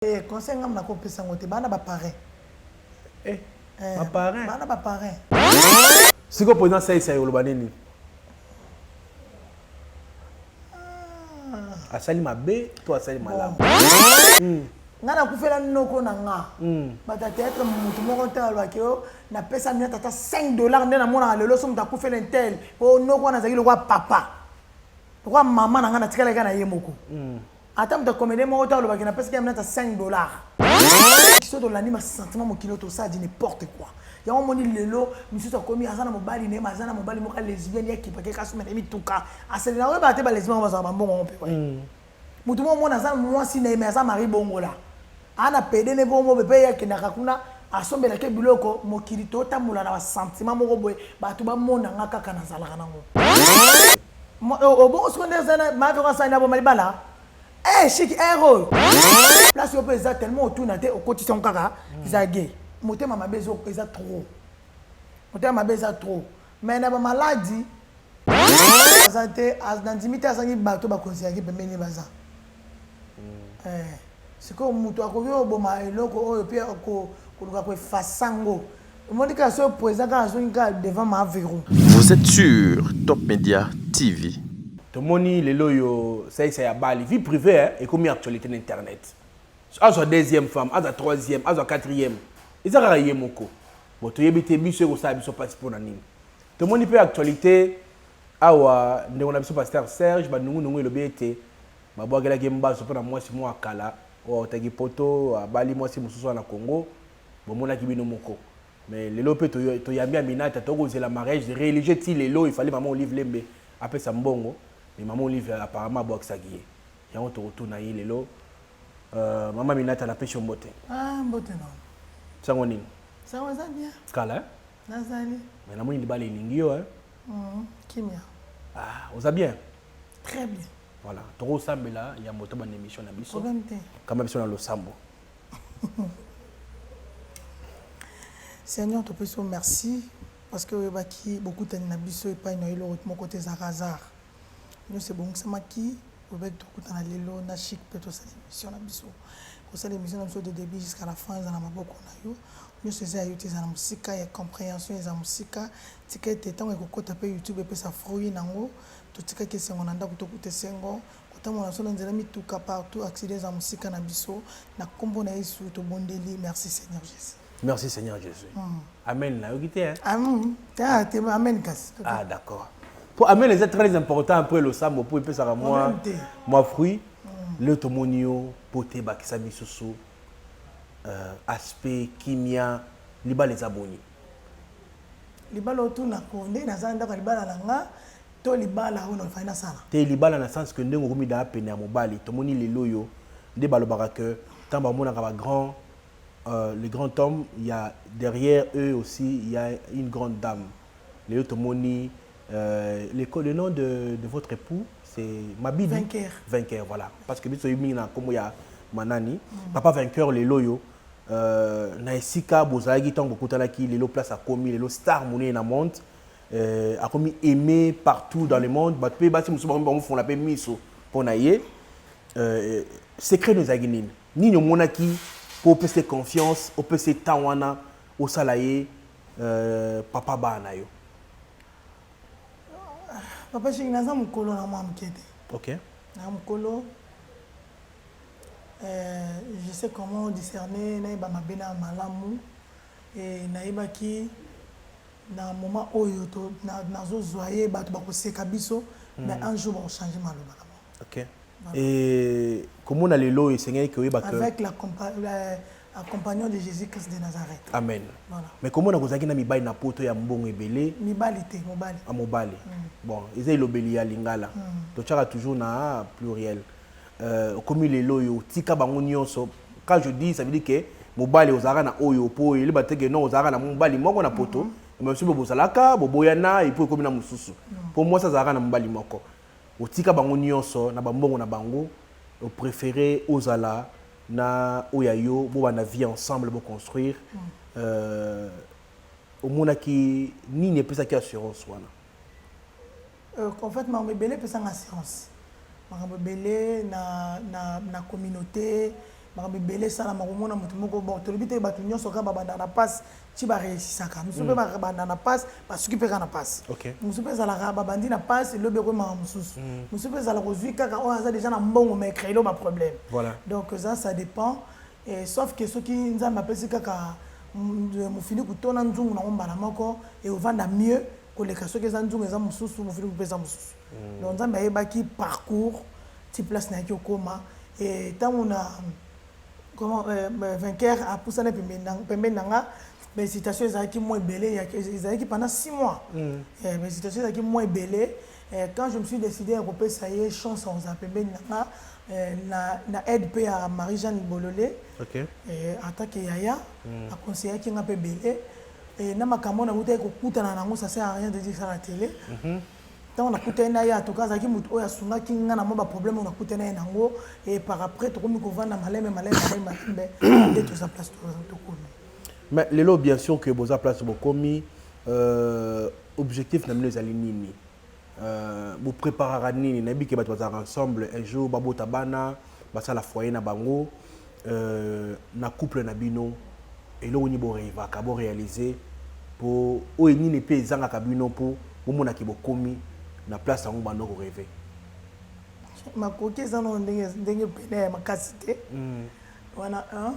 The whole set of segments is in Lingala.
Eh, conseil ngam na kopesa ngo te bana ba parrain. Eh, eh ba parrain. Bana ba parrain. Siko président sai sai oloba nini? Ah. Asali mabe to asali malamu. Hmm. nga nakufela noko na nga hmm. bato ya théâtre motu moko nte alobaki yo napesa mia tata 5 dollar nde namonaka lelo so moto akufela intel po noko wana azalaki lokwa papa lokwa mama na nga natikalaki na ye moko hmm. Ata moto ya comédien moko te alobaki napesaki Aminata 5 dollars. Soki tolandi ma sentiment mokili oyo tosala di n'importe quoi. Yango omoni lelo misusu akomi aza na mobali ne aza na mobali moko lesbienne ya kipake kasi mena mituka. Asele na oyeba te ba lesbienne bazala ba mbongo yango mpe. Moto moko omona aza mwasi na ye mais aza mari bongola. Ana pede ne bongo be pe ye akendaka kuna asombela ke biloko mokili to tambola na ba sentiment moko boye batu ba mona nga kaka na zalaka na ngo obongo siko nde zana ma veko asani na boma libala eh chic eh oyo place yo pe eza tellement otuna te okotisa ngo kaka eza gay motema mabe eza trop motema mabe eza trop mais na ba maladie aza te nandimi te azangi bato bakonzi yaki pembeni baza mm. eh, sikoyo moto akoki oboma eloko oyo mpe koluka koefasa ngo omoni kaka soki président kaka azongi kaka devant maviru vous êtes sur top media tv tomoni lelo oyo saisa ya bali vie privée eh, ekomi actualité na internet azwa deuxième femme azwa troisième azwa quatrième eza kaka ye moko bo toyebi te biso ekosala biso mpasi mpo na nini tomoni mpe actualité Awa, ndeko na biso Pastere Serge Bandungunungu elobi ete babwakelaki ye mbasu mpo na mwasi moko ya kala oyo autaki Poto, abali mwasi mosusu awa na Congo. Bomonaki bino moko. Mais lelo mpe toyambi Aminata, tokoki kozela mariage religieux tii lelo. Il fallait Mama Olive Lembe apesa mbongo, mais Mama Olive apparemment abwakisaki ye. Yango tokotuna ye lelo. Euh, Mama Aminata, napesi yo mbote. Ah, mbote na yo. Sango nini? Sango eza bien. Kala, hein? Nazali. Mais na moni libala elingi yo hein. Mm, kimia. Ah, oza bien? Très bien. Voilà, toko sambela ya moto ba émission na biso. Problème te. Kama biso na losambo. Seigneur, topesi yo merci parce que oyebaki bokutani na biso epai na yo eloko moko te ezalaka hasard. Nionso ebongisamaki po pe tokutana lelo na Chic pe tosala emission na biso. Kosala emission na biso de debut jusqu'à la fin eza na maboko na yo. Nionso eza ya yo te eza na mosika ya comprehension eza mosika. Tika ete tango ekokota pe YouTube epesa fruit nango. Totikaki esengo na ndaku tokuta esengo. Kotambola na biso na nzela mituka partout accident eza mosika na biso. Na kombo na Yesu tobondeli merci seigneur Jesus. Merci Seigneur Jésus. Mm. Amen. Là, vous hein? Amen. Ah, t'es amen kasi. Ah, d'accord. Pour amen, c'est très important après le sambo pour epesa ka moi moi fruit. Mm. Le tomoni yo pote bakisa bisusu. Euh, aspect kimia libala eza boni. Libala otuna ko nde naza ndaka libala na nga to libala oyo nafai nasala. Te libala na sens que ndenge okomi da pene ya mobali tomoni lelo yo nde balobaka que ntango bamonaka bagrand euh, le grand homme ya derrière eux aussi il y a une grande dame lelo tomoni euh, le, le nom de, de votre époux c'est mabidi vainqueur. vainqueur voilà parce que biso mingi na kombo ya manani mm. papa vainqueur lelo yo euh, na esika bozalaki ntango bokutanaki lelo place akomi lelo star monene na monde euh, akomi aimé partout dans le monde bato mpe basi mosusu bakomi bamofongola mpe miso mpo na ye euh, secret no ezalaki nini Nini omonaki po opesa ye confiance, opesa ye temps wana osala ye euh, papa bana na yo? Papa Shingi, naza mokolo na mwa moke te. Ok. Na mokolo euh, je sais comment discerner nayeba mabe na malamu et nayebaki na moment oyo to na- nazozwa ye bato bakoseka biso mais un jour bakochange maloba na bango. Ok. Et comment le lot et Seigneur que oyeba que avec la accompagnant de Jésus-Christ de Nazareth. Amen. Voilà. Mais comment na kozaki na mibali na poto ya mbongo ebele? Mibali te, mobali. Ah mobali. Mm. Bon, eza elobeli ya lingala. Mm. To chaka toujours na pluriel. Euh, comme le lot yo tika bango nyonso. Quand je dis ça veut dire que mobali ozalaka na oyo po oyeli bateke non ozalaka na mobali moko na poto. Mm -hmm. Mais soki bozalaka boboyana et puis ekomi na mosusu. Mm. Po mwasi azalaka na mobali moko. Otika bango nionso na ba mbongo na bango o prefere ozala na oyo ya yo bobanda vie ensemble bo construire euh omonaki nini epesaki assurance wana? Euh en fait makambo ebele epesanga assurance makambo ebele na na na communaute makambo ebele esalama komona moto moko bon tolobi te bato nionso kaka babandaka na pasi ti ba reusisaka mosusu mpe mm. babanda na pasi basuki mpe kaka na pasi mosusu mpe ezalaka babandi na pasi lobi ekoyemaka mosusu mm. mosusu mpe ezalaka ozwi kaka oyo aza déjà na mbongo mais créelo baproblème donc eza ça dépend sauf que soki nzambe apesi kaka mm, mofini kutona nzungu nango mbala moko eovanda mieux koleka soki eza nzungu eza mosusu mofini mpe eza mosusu mm. donc nzambe ayebaki parcours ti place nayaki okoma ntango na comment euh, vainqueur apusana pembeni na pembeni na nga mais hésitation ezalaki mwa ebele ezalaki pendant 6 mois mm. eh, mais hésitation ezalaki mwa ebele eh, quand je me suis décidé ya kopesa ye chance ozala pembeni na nga eh, na, na aide mpe ya marie jeanne bolole okay. eh, atake yaya mm. aconseillaki nga mpe ebele eh, na makambo na utaki kokutana nango ça sert à rien de dire ça na télé mm -hmm. ntango nakutani na ye en tout cas azalaki moto oyo asungaki ngai na mwa baproblème oyo nakutani na ye nango e par après tokomi kovanda maleme maleme maleme malembe nde toza place tokomi mais lelo bien sûr que boza place bokomi euh, objectif na bino ezali nini euh, bopreparaka nini nayebi ke bato bazalaka ensemble un jour babota bana basala foyer na bango euh, na couple na bino eloko nini borevaka borealize mpo oyo nini mpe ezangaka bino mpo bomonaki bokomi na place yango bando koreve makoki eza nao ndenge ndenge pene ya makasi te hmm. wana un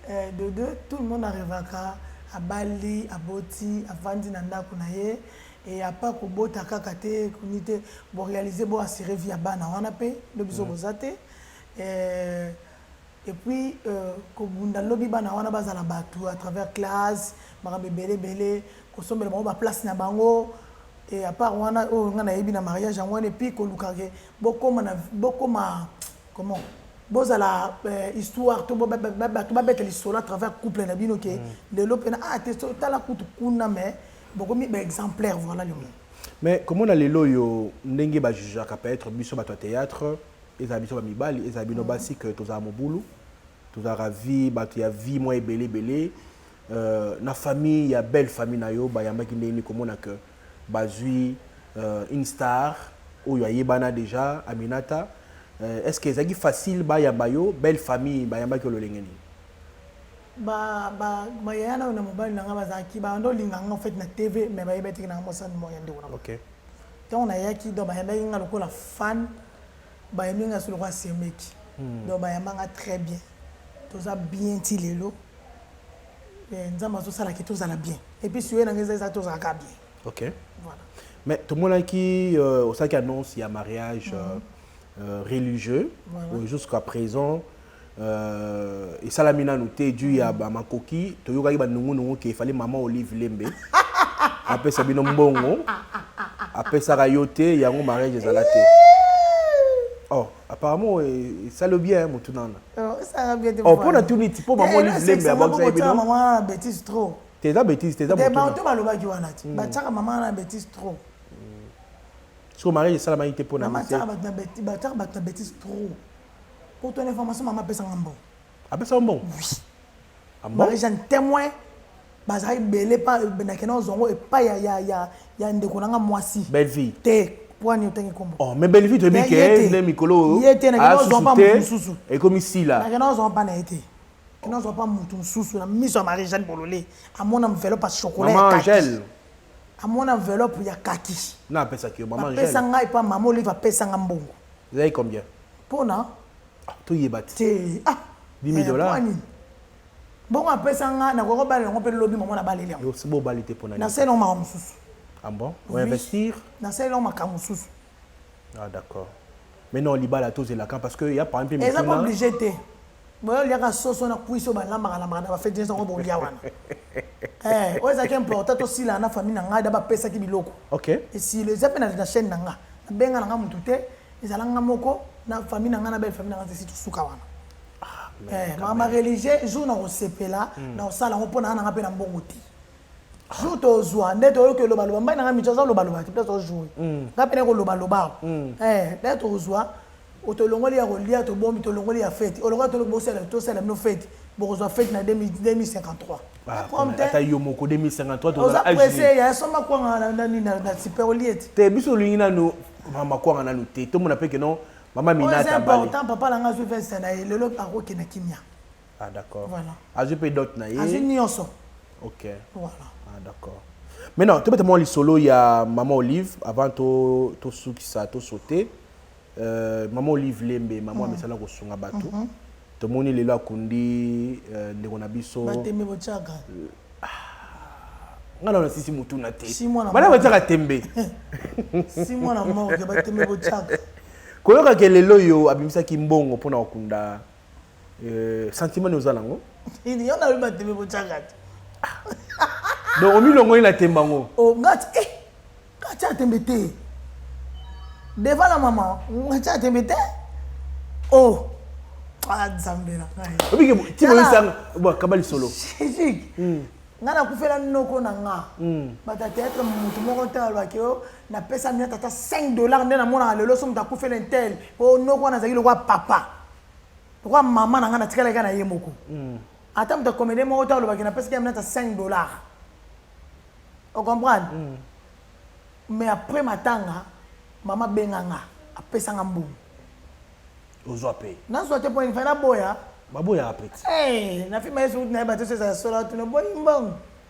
eh, de deux tout le monde arevaka abali aboti avandi na ndako na ye e apa kobota kaka te kuni te borealize boassire vie ya bana wana mpe nde biso hmm. boza te Eh et puis kobunda lobi bana wana bazala batu à travers classe makambo ebele ebele kosombela bango ba place na bango et à part wana oyo nga nayebi na mariage yango wana et puis koluka ke bokoma na bokoma comment bozala histoire to bato babeta lisolo à travers couple na bino ke lelo pena ah te tala kutu kuna mais bokomi ba exemplaire voilà le mot mais komona lelo oyo ndenge ba jugeaka peut-être biso bato ya théâtre ezala biso ba mibali ezala bino basi que tozala mobulu tozalaka vie bato ya vie mwa ebele ebele euh, na famille ya belle famille na yo bayambaki ndenge nini komona que bazwi euh, une star oyo ayebana déjà aminata euh, est ce que ezalaki facile bayamba yo belle famille bayambaki yo lolenge nini bayaya nayo na mobali na ngai bazalaki bando olinga ngai ofete na tv mais bayebaki teke nanga mosani moya ndeko na okay. Tango na yaki donc ba yambaki nga lokola fan ba yambi nga sous lokola semeki donc ba yamba nga très bien toza bien ti lelo eh, nzambe azo sala ki tozala bien et puis suye na nga eza tozala ka bien ok voilà mais tout monde qui euh, au sac annonce il y a mariage mm -hmm. euh, religieux voilà. jusqu'à présent euh, esalami nanu te juu ya mm. bamakoki toyokaki banungunungu ke efali mama olive lembe apesa bino mbongo apesaka yo te yango mariage ezala te oh apparemment esali bien motu nana oh, mpo natuni ti mpo mama olive lembe abakisaki bino te eza bétise te eza bato balobaki wana ti mm. batiaka mama wana bétise trop mm. soki mariage esalamaki te mpo na bato na bétise trop Pour ton information, maman pesa nga mbongo. Apesa yo mbongo? Oui. Ah bon? Marie Jeanne témoin bazalaki bele pa nakenda ozwa yango epai ya, ya, ya, ya ndeko na nga mwasi Bellevue. te mpo ani otangi nkombo Oh, mais Bellevue toyebi Mais ke ye te. nde mikolo oyo Ye te, nakenda asusu ozwa mpa te, moto mosusu. ekomi sila. nakenda ozwa mpa na ye te kenda ozwa mpa moto mosusu na miso ya marie jeanne bolole amona mvelo pa chokola ya Maman kaki. Angèle. amona enveloppe ya kaki na apesaki yo mama apesa ngai epa mama olive apesa ngai mbongo ezalaki combien mpona ah, toyeba te ah, 10 eh, dollars bongo apesa nga nakoki kobalela yango mpe lobi mama nabaleli yango nasali yango makambo mosusu ah bon? oui. nasali yango makambo mosusu Ah d'accord. Mais non libala tous et lacan parce que il y a par exemple Eza pas obligé te. Boyo liaka soso na kuiso ba lamba la mara ba fête nzango bo lia wana. Eh, oyo ezaki important to sila na famille na ngai da ba pesa ki biloko. OK. Et si les appels na chaîne na ngai. Benga na ngai mutu te, ezala ngai moko na famille na ngai na belle famille na ngai si tusuka wana. Ah, eh, ma religieux jour na kosepela hmm. na kosala yango mpo na nanga mpe na mbongo te jour tozwa nde toyoki oloba loba mbai na ngai mijo aza loba loba te mpe tozojoue mm. ngai mpe nakoloba loba mm. eh, nde tozwa tolongoli ya kolia tobombi tolongoli ya feti olongola toloki bosala tosala bino feti bokozwa feti na 2053 ah, ata yo moko 2053oza presse ya soma kwanga na nini na super olie te te biso olingi nanu mama kwanga nanu te tomona mpe keno mama minata important papa na ngai azwi veste na ye lelo akokende kimia Ah d'accord. Voilà. Azwi mpe dot na ye. Azwi nyonso. Ok. Voilà. Ah d'accord. Maintenant, tobeta mwa lisolo ya Maman Olive avant to to sukisa to sauter. Euh, Maman Olive Lembe, maman mm. amesala kosunga bato. Mm -hmm. Tomoni lelo akundi euh, ndeko na biso. Batembe bochaka. Euh, nga na nasisi motuna te bana batyaka tembe koyokaka lelo oyo abimisaki mbongo mpo na kokunda Euh, sentiment nini oza nango yo nayebi batembe botyaka te donc omilongoli na tembe yango oh, ngati e eh, ngati atembe te devant la mama ngati atembe te o oh, ah, nzambe na ngai obike timoyosanga kaba lisolo ngai nakufela noko na nga hmm. bata théâtre motu moko ntango alobaki yo oh, Na pesa niata ata 5 dollars nde na mona na lelo somo takufe na intel po noko wana zaki lokwa papa. Lokwa mama na nga na tikala ka na ye moko. Mm. Ata mta comédien moko ta loba ki na pesa ki niata 5 dollars. O comprendre? Mm. Mais après matanga mama benga nga a pesa nga mbongo. Ozwa pe. Na zwa te po ni fana boya. Baboya apeti. Eh, na fima yesu na ba to sesa sola tu no boyi mbongo.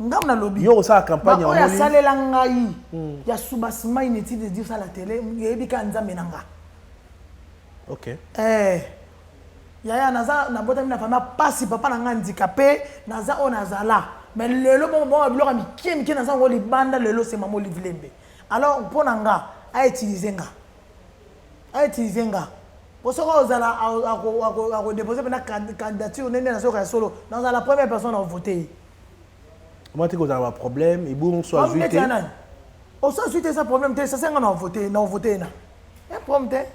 ngai nalobi yo osala campagne oyo asalela ngai hmm. ya subasima inutile de dire ça la télé yebi ka nzambe na nga ok eh yaya naza nabotami na famille pasi papa na ngai handicapé naza oyo nazala mais lelo bomoboma biloko ya mikie mikie naza yango libanda lelo se mama olive lembe alors mpo na nga autilize nga A utiliser nga po soki akozala ako deposer pena candidature nde na zoka ya solo nakozala la première personne nako voter ye. Comment te kozala ba problème ebongo so azui te. Problème ya nani? Oso azui te eza problème te sasa nga nako voter nako voter ye na. Eh problème te.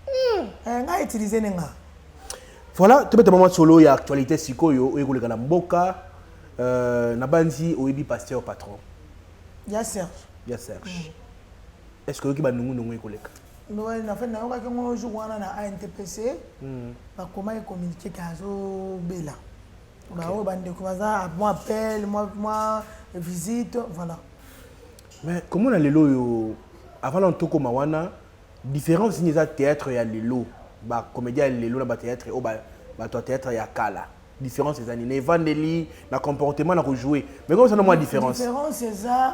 Hmm. Eh nga utiliser ne nga. Voilà, tu peux mwa solo ya actualité sikoyo oyo ekoleka na mboka euh, nabanzi oyebi pasteur patron. Ya Serge. Ya Serge. Mm. est ce que oyoki banungu nungu ekoleka nafani nayokaki yango jour wana na antpc hmm. bakomaki communiqué ke azobela baoyo bandeko baza mwa appel mwa visite voilà mais komona lelo oyo avant na tokoma wana différence nini eza théâtre ya lelo bacomédien ya lelo na bathéâtre oyo bato ya théâtre ya kala différence eza nini na evandeli na comportement na kojoue mais komosana mwa différence différence eza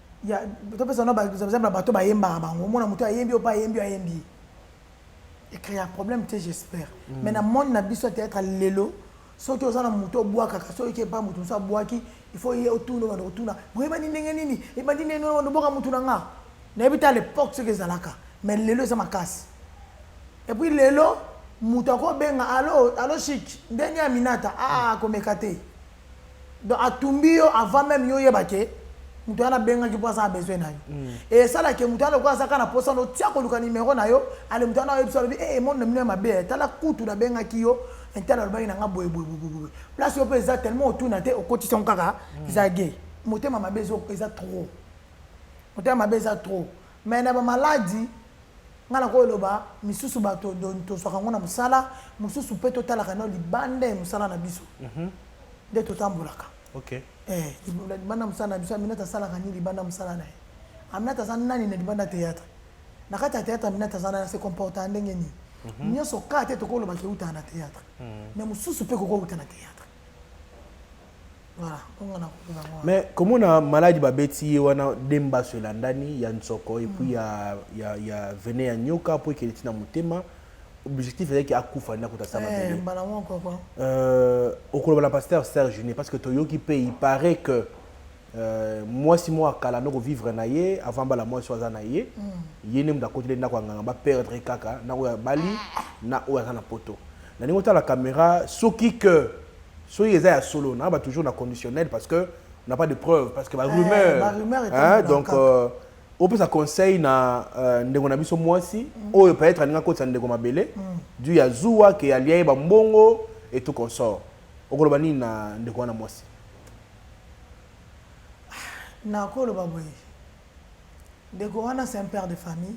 Ya topesa na ba exemple ya bato bayembaka bango omona moto ayembi oyo mpe ayembi oyo ayembi ye ecrea problème te j'espère mm. mais na monde na biso ya théâtre lelo soki oza na moto obwakaka soki oke epai moto mosusu abwaki il faut ye otuna obanda kotuna boyebani ndenge nini ebandi ndenge nini obanda obwaka motu na nga nayebi te à l'époque soki ezalaka mais lelo eza makasi et puis lelo moto akobenga alo alo chic ndenge ya minata aa ah, komeka te Donc atumbi yo avant meme yo oyeba ke moto wana abengaki mpo aza na besoin na yo mm. et esala ke moto wana lokola azaka na posa no tia koluka numero na yo ale moto wana oyebisa alobi ee eh, monde na bino ya mabe eh, tala kutu nabengaki yo entala alobaki na nga boyeboyeboyeboye place yo mpe eza tellement otuna te okotisa ngo kaka mm. eza gay motema mabe eza trop motema mabe eza trop Mais na ba maladi nga na ko eloba misusu bato to zwaka yango na musala mususu pe to talaka nao libanda ya musala na biso nde to tambolaka libanda ya musala na biso aminata asalaka nini libanda ya musala na ye aminata aza nani na libanda ya theatre na kati ya theatre aminata aza nani ase comporta ndenge nini nionso ka te toko loba ke ewutaka na theatre mais mususu pe ekoki kowuta na theatre mais komona maladi babeti ye wana de mbaso elandani ya nsoko epuis ya, ya, ya vene ya nyoka mpo ekende ntina motema objectif ezalaki akufa nde akuta sa mabele eh, euh, okoloba na pasteur serge ne parce que toyoki mpe il paraît que Euh, mwasi moko ya kala noko vivre na ye avant bala mwasi oyo aza na ye mm. ye nde moto akoteli ndako ya nganga baperdre kaka na oyo abali na oyo aza na poto na ndenge otala caméra soki que soki eza ya solo na ba toujours na conditionnel parce que on n'a pas de preuve parce que ba eh, rumeur, ba rumeur hein, donc euh, opesa conseil na euh, ndeko na biso mwasi mm. oyo peut-être alingi akotisa ndeko mabele mm. du ya zuwa ke alia ye bambongo et tout consort okoloba nini na ndeko wana mwasi Nako loba boye ndeko wana c'est un père de famille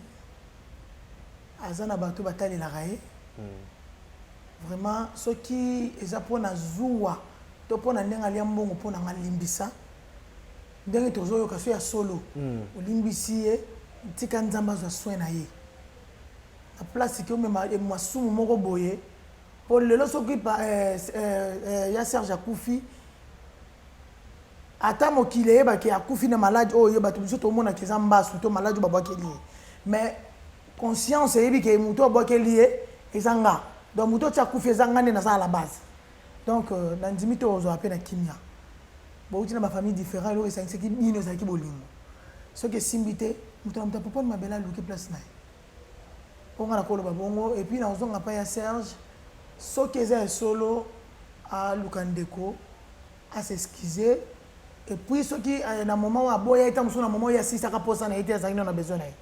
aza na batu ba talelaka ye vraiment soki eza pona zuwa to pona ndenge alia mbongo pona nga limbisa ndenge tozo yoka soki ya solo olimbisi ye tika nzambe azwa soin na ye na place ke omema masumu moko boye po lelo soki pa, eh, eh, eh, ya serge akufi ata mokili eyebaki akufi na maladi oyo ye bato biso tomonaki eza mbasu to maladi oyo babwakeli ye mais conscience eyebi ke moto abwakeli ye eza nga donc moto oti akufi eza nga nde naza à la base donc euh, nandimi te ozwa mpe na kimia bouti na bafamille différent eloko esangisaki bino ezalaki bolingo soki esimbi te moto na moto apoponi mabele aluki place na ye Po nga nako loba bongo et puis nako zonga epai ya Serge soki eza ya solo aluka ndeko a s'excuser et puis soki na moment oyo aboya ye tango mosusu na moment oyo ye asilisaka posa naye te azalaki nanu na besoin naye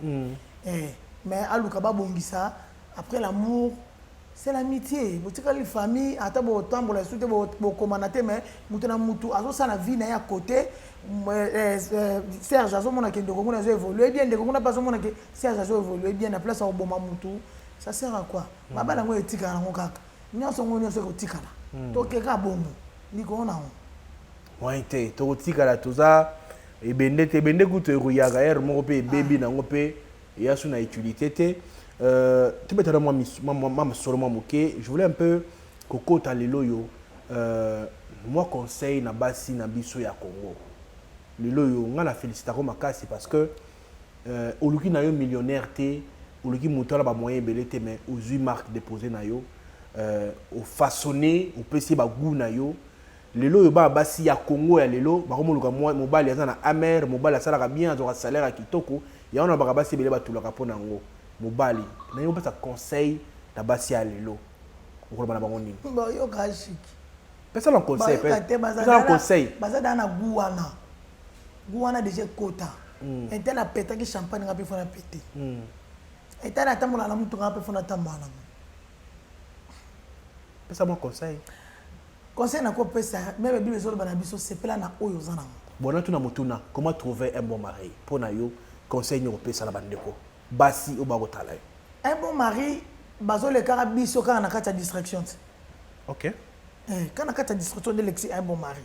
eh mais aluka ba bongisa après l'amour C'est l'amitie botikali famille ata bo tambola lisusu te bo komana te mais mutu na mutu azo sala vie na ye à cote Serge azo mona ke ndeko nguna azo evoluer bien ndeko nguna azo mona ke Serge azo evoluer bien na place ya koboma mutu ça sert à quoi hmm. ba bana ngo etikala ngo kaka nyonso ngo nyonso ekotikala hmm. to keka bongo likolo na ngo moyen te tokotikala toza ebende te ebende kutu ekoyaka ere moko mpe ebebi ah. nango mpe eya su na utilité te euh, tobeta na mwa masolo mwa moke je voulais un peu kokota lelo oyo euh, mwa conseil na basi na biso ya congo lelo oyo ngai na félicitako makasi parce que euh, oluki na yo millionnaire te oluki moto wana bamoyen ebele te mais ozwi marque déposé na yo euh, ofaçonne opesi ye bagout na yo Lelo oyo bana basi ya congo ya lelo bako moluka mobali aza na amr mobali asalaka bien azwaka salaire ya kitoko yango nalobaka basi ebele batulaka pona yango mobali nalingi opesa conseil na basi ya lelo okoloba na bango nini bayoka shiki pesa na conseil pesa na conseil baza da na goût wana goût wana déjà ekota hmm. ete na petaki champagne nga mpe fona pete hmm. ete na tambola na motuka nga mpe fona tambola nango pesa mwa conseil Conseil na ko pesa meme bible ezo loba na biso sepela na oyo oza nango. Bon na tuna motuna comment trouver un bon mari po na yo conseil nini oko pesa na ba ndeko basi oyo ba ko tala yo? Un bon mari bazo lekaka biso kaka na kati ya distraction ti. Ok. Eh kaka na kati ya distraction nde elekisi un bon mari.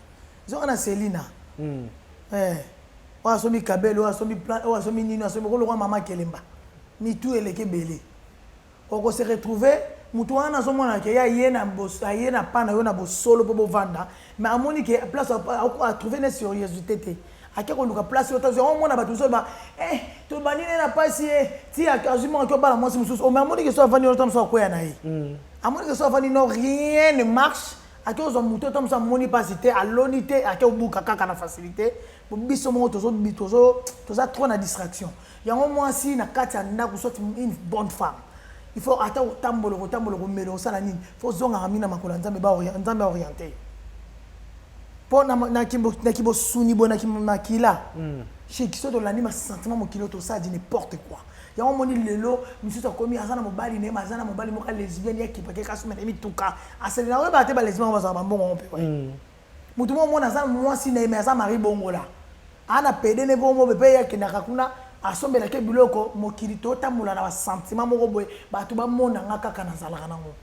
Zonga na Selina. Hum. Eh oyo asombi kabelo oyo asombi plan oyo asombi nini oyo asombi oko lokola mama kelemba mitu eleki ebele. Oko se retrouver mutu wana azo mona ke ye aye na aye na pas na yo na bosolo po bo vanda mais amoni ke place a trouver ne serieuxite te ake koluka place yo tozwa omona bato mosusu ba eh tobandi ne na pasi ye eh, ti azwi mwana to bala mwasi mosusu ome oh, amoni ke so avandi wana ta mosusu akweya na ye mm. amoni ke so avandi no rien ne marche ake ozwa moto ta mosusu amoni pasi te aloni te ake obuka kaka na facilité biso moko toza trop na distraction Yango mwasi na kati ya ndako soit une bonne femme. Il faut ata kotambola kotambola komela osala nini? Faut zongaka mina makolo ya Nzambe ba Nzambe a orienter. Po na na kimbo na kibo suni bo na kimbo makila. Mm. Chez qui soto lani ma sentiment mokilo to ça dit n'importe quoi. Yango moni lelo misusu akomi azana mobali ne mazana mobali moka lesbienne ya kipake kasu mena mituka. Asele na oyo ba te ba lesbienne bazana ba mbongo mpe. Mm. Mutu moko omona aza muasi naye mais aza mari bongola aza na pede ne bongo pe ye akendaka kuna asombela ke biloko mokili to tambola na ba sentiment moko boye batu ba mona nga kaka na zalaka na ngo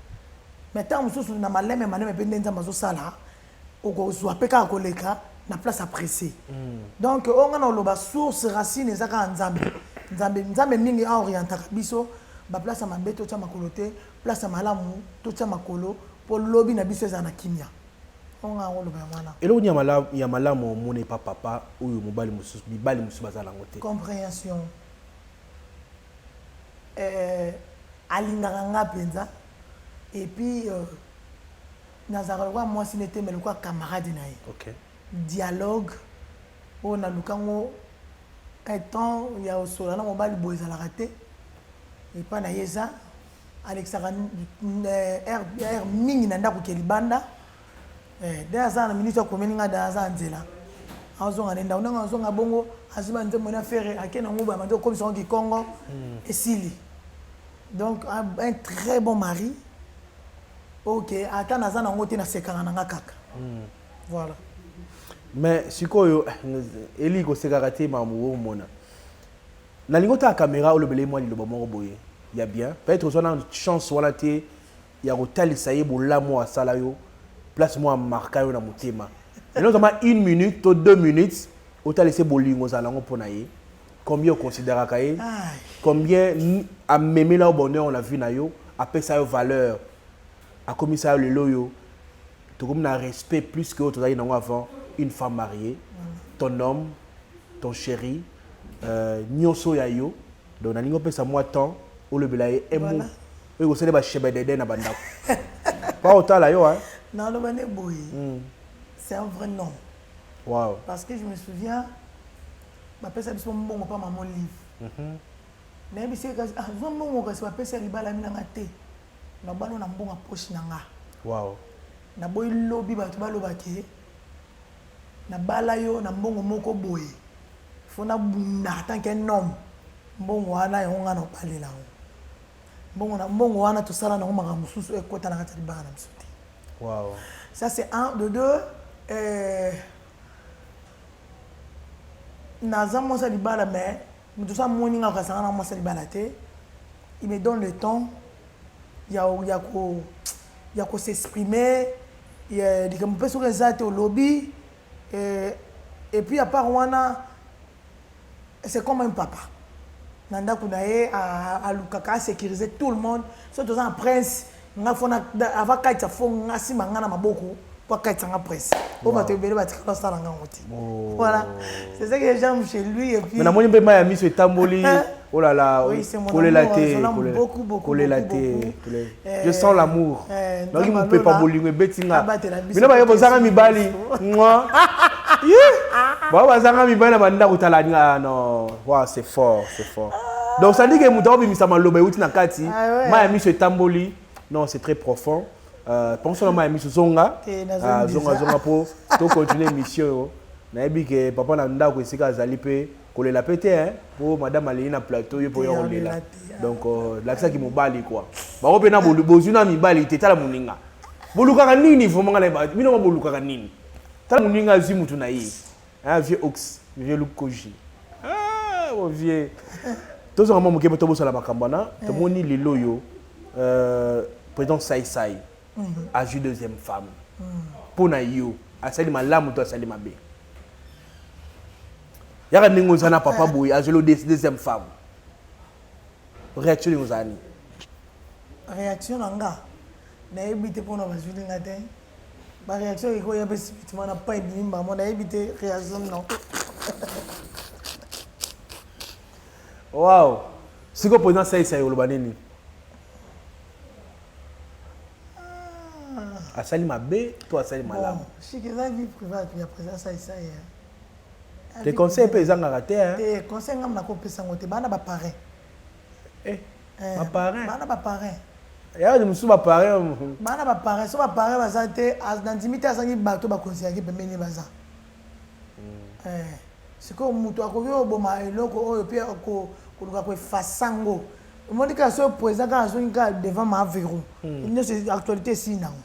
mais tango mususu na maleme maleme pe nde nzambe azo sala oko zua pe kaka ko leka na place ya presse donc oyo nga nao loba source racine eza kaka nzambe nzambe nzambe mingi a orientaka biso ba place ya mabe to tia makolo te place ya malamu to tia makolo po lobi na biso ezala na kimia eloko nini ya malamu omona epa papa oyo mobali mosusu mibali mosusu baza nango te comprehension euh, alingaka nga mpenza epuis euh, nazalaka lokola mwasi nete me lokola camarade na ye okay. dialogue oyo naluka ngo etant ya osola na mobali boye ezalaka te epa na ye eza alekisaka heure mingi na ndako ke libanda eh, de aza na minute akomeli ngai da aza na nzela azonga na ndako ndenge azonga bongo azwi banzembo na fere ake na nguba bandi okomisa yango kikongo hmm. esili donc un très bon mari ok ata naza na yango te nasekaka na nga kaka hmm. voilà mais sikoyo eh, eli kosekaka te mamu omona Nalingi otala camera olobela ye mwa liloba moko boye ya bien. Peut etre ozwa nanu chance wana te ya kotalisa ye bolamu oyo asala yo, place moko a marqua yo na motema. Maintenant zwa mwa une minute to deux minutes otalisa ye bolingo ozala nango mpo na ye, combien o consideraka ye, combien amemela yo bonheur oyo na vie na yo, apesa yo valeur, akomisa yo lelo oyo tokomi na respect plus que oyo tozalaki nango avant une femme mariee, ton homme, ton cherie. Euh, nyoso ya yo donc nalingi opesa mwa temps olobela ye emu oyo ekosala ba shebedede na bandako pa otala yo hein naloba nde boye hmm. c'est un vrai nom wow. parce que je me souviens bapesa biso mbongo mpa mama olive mhm. nayebisi kasi ah, zwa mbongo kasi bapesa libalami na nga te nabano na mbongo ya poche na nga wow. naboyi lobi bato baloba ke Na bala yo na mbongo moko boye faut na bunda en tant qu'un homme mbongo wana yango nga na obalela yango mbongo na mbongo wana tosala nango makambo mosusu ekota eh, na kati ya libala na biso te wow. ça c'est un de deux euh, naza mwasi ya libala mais moto oza moni nga okazanga na mwasi ya libala te il me donne le temps ya ya ko ya ko s'exprimer likambo mpe soki eza te olobi eh, et puis à part wana c'est comme un papa na ndako na ye alukaka asécurise tout le monde soki toza na prince Nga fona ava kaitsa fo nga sima nga na maboko po akaitsa nga presse. Po bato ebele batikala osala nga ngo te. Voilà. C'est ça que j'aime chez lui et puis. Mais namoni mpe maya miso etamboli. Oh là là, kolela te, kolela te. Je sens l'amour. Naoki mopepa bolingo ebeti nga. Bino baye bozanga mibali. Mwa. Ba bazanga mibali na bandako tala nga non. Wow, c'est fort, c'est fort. Donc ça dit que moto abimisa maloba euti na kati, ah ouais. maya miso etamboli. Non, c'est très profond. Euh, penso na maya miso zonga. Eh, ah, zonga zonga po to continuer émission yo. Nayebi que papa na ndako esika azali pe kolela pe te hein, po madame aleli na plateau yo po yo kolela. Ah. Donc euh, lakisa ki mobali quoi. Ba ko pe na bozwi na mibali te tala moninga. Bolukaka nini vraiment ngala ba bino bolukaka nini? Tala moninga azwi mutu na ye. Hein, vieux Ox, vieux Lukoji. Ah, mon vieux. tozonga mwa moke to bosala makambo wana eh. tomoni lelo oyo euh, président saisai mhm. azwi deuxième femme mhm. mpo na yo asali malamu to asali mabe yaka ndenge oza na papa boye eh. azweli deuxième femme réaction ndenge ozala nini réaction na nga nayebi te mpo na bazwili nga te Ba reaction eko ya pe subitement na pas ebimi mbamo na yebi te reaction non. Wow. Siko président Saïsa yoloba nini? Ah. Asali mabe to asali malamu. Bon, shiki za vie privée ya président Saïsa ya. Hein. Te conseil pe ezangaka te hein. Te conseil ngam na ko pesa ngote bana ba pareil. eh, eh, ba parrain bana ba parrain ya ni musu ba parrain bana ba parrain so ba parrain baza te na ndimi te azangi bato bakonzi yaki pembeni baza mm. eh, sikoyo moto akoki oboma eloko oyo mpe koluka koefasa yango omoni kaka soki président kaka azongi kaka devant ma verrou hmm. nyonso actualité esili nango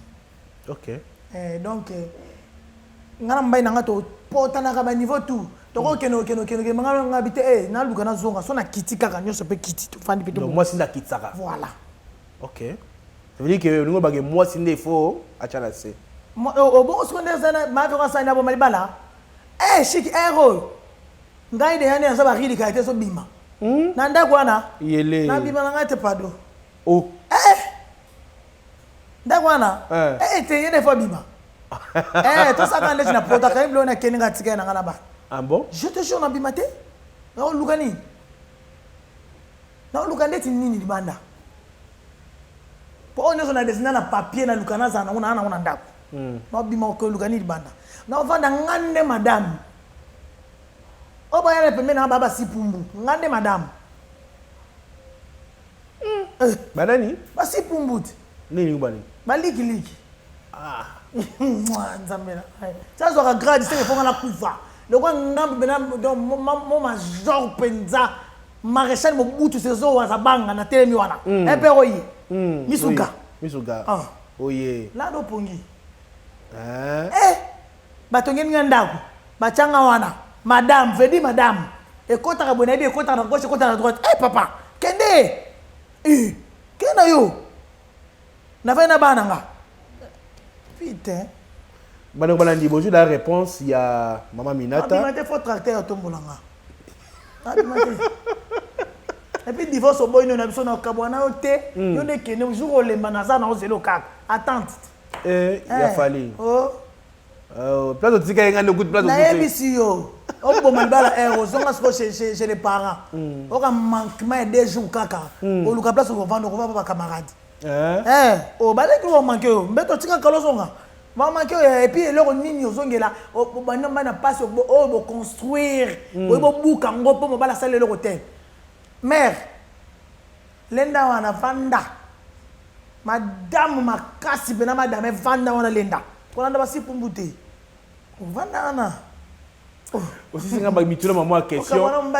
Ok. Eh, donc, eh, nga na mobali na nga topotanaka baniveau tout tokokende okende okende okende nga nga bi te eh, naluka nazonga so nakiti kaka nyonso mpe kiti tofandi mpe Donc tobonga. mwasi nde akitisaka. voilà Ok. Ça veut dire que olingi obake mwasi nde il faut atya na se. Mo- o- obongo siko nde eza na mafe ngo asali na boma libala e shiki ere oyo ngai deya nde naza barilika te ezobima na ndako wana Yele. nabima na ngai te pado Oh. ndako wana eh. ete ye defo abima eh, tosaka ndeti na protaka ye bilo na kende nga tika ye na nga na bana ah je te jure nabima te naoluka nini naoluka ndeti nini libanda mpo oyo nyonso na desina na papier naluka nazala nango naa nango na ndako hmm. naobima okoluka nini libanda naovanda nga nde madame oyo bayala pembe na nga baba sipumbu nga nde madame Eh, ba nani? Ba si pumbuti. Nini ko ba nini? Ba liki liki. Ah. Mwa nzambe na. Ça zo ka grade c'est faut na kufa. Loko ngambe bena donc mon major penza. Maréchal Mobutu sezo waza banga na telemi wana. Mm. Epe eh, oyi. Mm. Misuga. Misuga. Ah. Oye. Lado pongi. Eh. Eh. Batongeli nga ndaku batia nga wana madame veut dire madame ekotaka boye nayebi ekotaka na gauche ekotaka na droite eh papa kende eh kende na yo navandi na bana nga putain bandeko balandi bozwi la réponse ya mama minata abima te fo tracteur atombola nga abima te epuis divorce oboyi nio na biso na okabwa na yo te yo nde kende jour olemba naza na ozela okaka attente Eh, ya eh, fali oh. Euh, place otikaki ngai nde kutu place nayebisi yo oboma libala ere ozonga siko chez les parents hmm. oka manquement ya deux jours kaka hmm. oluka place okovanda okova pa bacamarade eh? obaleki oh, omanke yo mbeto otika kala ozonga mamaki oyo eh, epuis eloko nini ozongela banda mbai na mpasi oyo boconstruire hmm. oyi bobuka yango mpo mobala asala eloko te mare Lenda wana vanda madame makasi pena madame vanda wana lenda kolanda basi pumbu te vanda wana osisi nga mituna mwa mwa question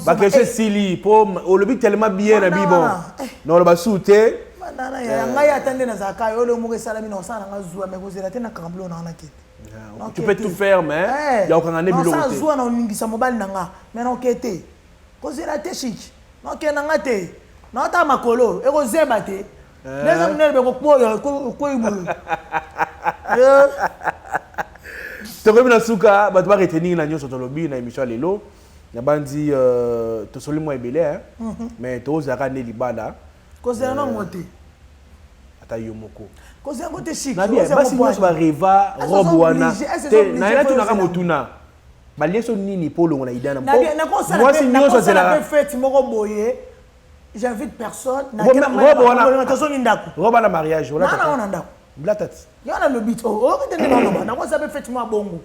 baquestion esili mpo olobi telema bien na bibon eh. na oloba su te ngai eh. ya ata nde nazalaka yo leo moko esalami na osala nanga zuwa me kozela te na kamblo na wana kete ah, tu peux tout faire mais eh. ya okanga nde biloko te zuwa na oningisa mobali na nga me na oke te Kozela te chic. Non kenda nga te. Non ta makolo eko zeba te. Eh. Neza minene beko kpoya ko ibu. Eh. Tokomi na suka bato ba retenir na nyonso tolobi na émission lelo. Na banzi euh, tosoli mwa ebele hein. Mhm. Mais tozaka ne libala. Kozela na ngote. Euh, ata yo moko kozela ngo te chic basi nyonso bareva robe wana te naye natunaka motuna balie so nini mpo olongola ida na mwasi nyonso azelaka fete moko boye j'invite personne nazongi ndako roba na mariage olaa na ndako blatati yo nalobi te oyoki te nde naloba nakosa mpe fete mwa bongo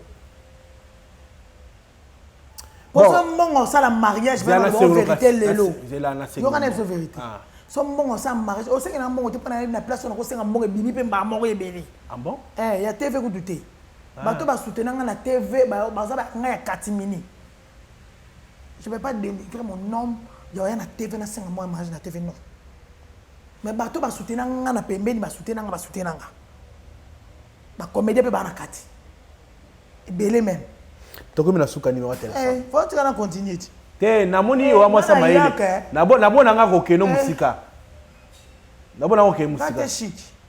poso mbongo osala mariage verité lelo yokana biso verité ah. so mbongo osala mariage osengela mbongo te mpo na place onakosenga mbongo ebimi mpe mbaa moko ebele ah eh, ya tv kutu te Bato ba soutena nga na TV baza ba nga ya catimini. Je vais pas denigrer mon homme ya oya na TV na senga mua mariage na TV non. Mais bato ba soutena nga na pembeni ba soutena nga ba soutena nga. Ba comédien pe ba na kati. Ebele même. Tokomi na suka numéro ya téléphone. Eh, faut tika na continuer ti. Te namoni yo amwasa eh, mayele. Nabo nabo nanga kokeno eh. musika. Nabo nanga kokeno musika. Kate chic.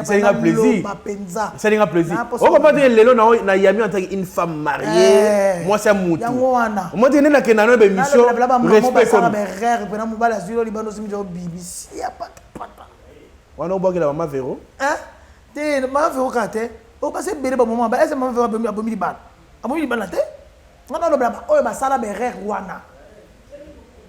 esalinga plaisiresalinga plaisir okoma te lelo na yami antaki une femme mariée mwasi ya mutu omoi te nde nakenda nayo bemission respect wana obwakela mama vero te mama vero kaka te okasi ebele bamama baese mama vero abomi libala abomi libala te nga balobela baoyo basala berere wana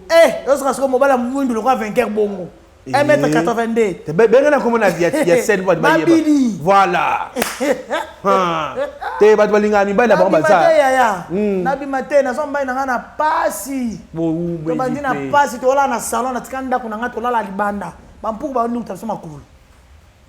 eh, ozoka sikoyo mobala mwindu lokola vainqueur bongo 1m82 benga na komona ya sel bato bayeba voilà te bato balingaka mibali na bango bazayaya hmm. nabima te nazwa mobali na ngai na pasi tobandi na pasi tolala na salon natika ndako na ngai tolala libanda bampuku baluta biso makolo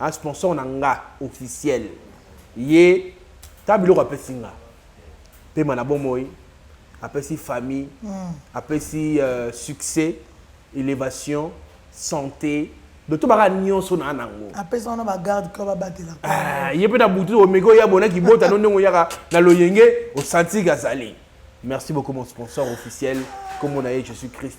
a sponsor na nga officiel ye ta biloko apesi nga pema na bomoi apesi famille mm. apesi euh, succès élévation santé doto baka nyonso na nango apesa wana bagarde ko babatela ah, ye mpe na butu omeki oya bona kibota no ndenge oyaka na loyenge osantiki azali merci beaucoup mon sponsor officiel kombo na ye jésus christ